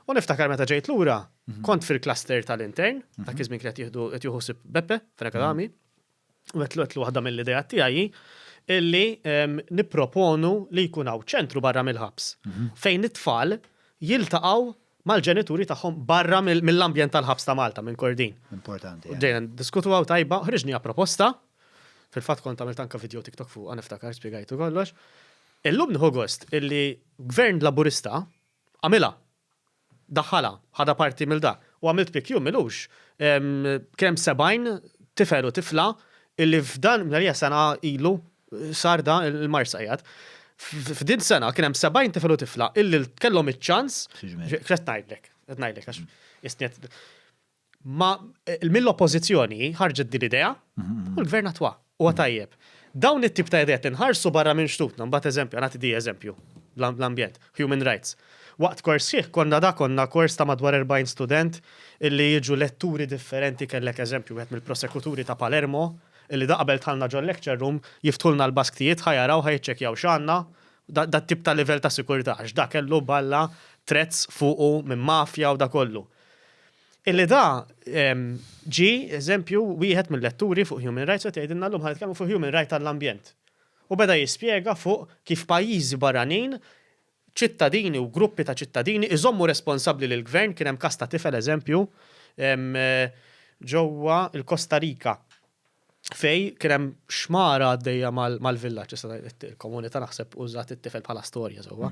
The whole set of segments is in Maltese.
U niftakar meta ġejt lura, mhm. kont fil-cluster tal-intern, mhm. ta' kizmin kret jihdu jtjuhu sib Beppe, fil-akadami, mhm. u għetlu għetlu għadda mill-ideja tiegħi illi niproponu li jkun hawn ċentru barra mill-ħabs fejn it-tfal jiltaqgħu mal-ġenituri tagħhom barra mill-ambjent tal-ħabs ta' Malta minn Kordin. Importanti. Ġejna diskutu għaw tajba, ħriġni proposta, fil-fatt kont għamilt anka video TikTok fuq, għaniftakar, spiegajtu kollox. Illum nħu gost illi gvern laburista Għamilha. Daħħalha. Ħadha parti mill dak. U għamilt pick jum ilux. Kien hemm 70 tifel u tifla illi f'dan, minn hija sena ilu sar da l-Marsa qiegħed. F'din sena kien hemm 70 tifel u tifla illi kellhom iċ-ċans. X'qed ngħidlek? Qed ngħidlek għax isni qed. Ma mill-Oppożizzjoni ħarġet din l-idea u l-Gvern attwa. Huwa tajjeb. Dawn it-tip ta' ideat inħarsu barra minn xtutna, mbagħad eżempju, nagħti di eżempju, l-ambjent, human rights. Waqt kors sħiħ konna da konna kors ta' madwar 40 student illi jiġu letturi differenti kellek eżempju wieħed mill-prosekuturi ta' Palermo illi da qabel dħalna ġol-lecture room jiftħulna l-basktijiet ħa jaraw ħa jiċċekkjaw x'għandna da dat-tip ta' livell ta' sikurtà għax da kellu balla threats fuqu minn mafja u da kollu. Illi da ġi eżempju wieħed mill-letturi fuq human rights qed jgħidilna llum ħa nitkellmu fuq human right għall-ambjent. U beda jispjega fuq kif pajjiżi barranin, ċittadini u gruppi ta' ċittadini iżommu responsabbli lill-gvern, kien hemm każ ta' tifel eżempju ġewwa l-Kosta Rika. fej kien hemm xmara għaddejja mal-villaġġ issa ngħid il-komunità naħseb użat it-tifel bħala storja sewwa.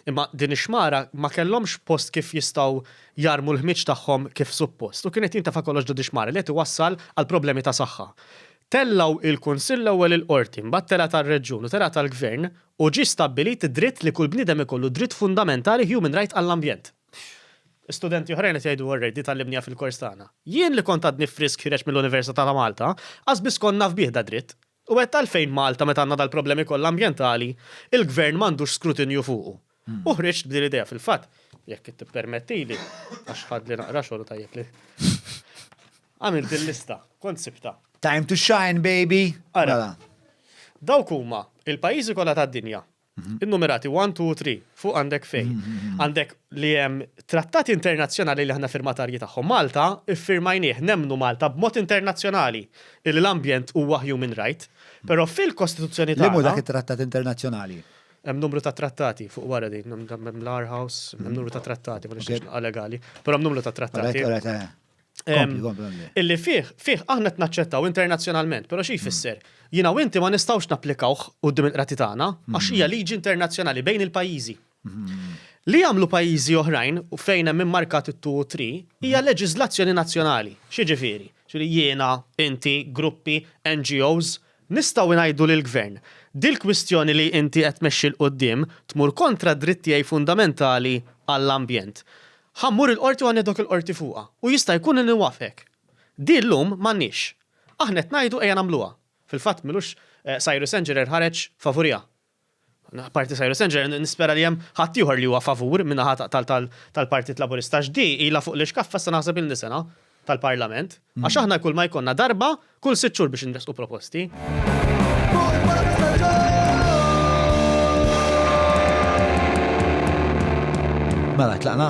Imma din ix-xmara ma kellhomx post kif jistgħu jarmu l-ħmieġ tagħhom kif suppost u kien qed jintafa' kollox ġo dix-xmara li qed iwassal għal problemi ta' saħħa. Tellgħu il-Kunsill l-ewwel il-Qorti, mbagħad telgħet għar-Reġjun u telgħet għall-Gvern u ġie stabbilit id-dritt li kull bniedem ikollu dritt fundamentali human right għall-ambjent. Studenti oħrajn qed jgħidu Orrej, di tgħallimniha fil-kors tagħna. Jien li kont għadni frisk ħiereġ mill-Università ta' Malta, qas biss kont naf bih dad-dritt. U għedt għalfejn Malta meta għandna dal-problemi kollha ambjentali, il-Gvern m'għandux skrutinju fuqu. U ħriġt b'din l-idea fil-fatt, jekk tippermettili, għax ħadli naqra xogħol u tajjeb li għamilt il-lista, kont sibtha. Time to shine, baby! Ara, dawk huma il-pajjiżi kollha tad-dinja Innumerati 1, 2 u 3, fuq għandek fej. Għandek li hemm trattati internazzjonali li aħna firmatarji tagħhom. Malta ffirmajnieh, nemmnu Malta b'mod internazzjonali illi l-ambjent huwa human right, però fil-Kostituzzjoni tagħna. Liema hu dak it-trattat internazzjonali? Hemm numru ta' trattati fuq wara din, hemm l-Aarhus, hemm numru ta' trattati, ma nixtieqx nibqa' legali, però hemm numru ta' trattati. Illi fih, fih aħna qed naċċettaw internazzjonalment, però xi jfisser? Jiena u inti ma nistgħux napplikawh quddiem il-qrati tagħna għax hija liġi internazzjonali bejn il-pajjiżi. Li jagħmlu pajjiżi oħrajn u fejn hemm immarkat it-two u three hija leġiżlazzjoni nazzjonali. X'jiġifieri? Jiena, inti, gruppi, NGOs, Nistgħu ngħidu lill-Gvern, dil-kwistjoni li inti qed tmexxi 'l quddiem tmur kontra d-dritt tiegħi fundamentali għall-ambjent. Ħa mmur il-Qorti u ħa nieħdok il-Qorti fuqha u jista' jkun li nwafqek. Di llum m'għandniex. Aħna qed ngħidu ejja nagħmluha. Fil-fatt m'ilux Cyrus Engerer ħareġ favuriha. Apparti Cyrus André, nispera li hemm ħadd ieħor li huwa favur min-naħa tal-Partit Laburista għax di ilha fuq l-ixkaffa issa naħseb ilni sena tal-Parlament għax aħna kull ma jkollna darba kull sitt xhur biex inressqu proposti. Mela tlaqna?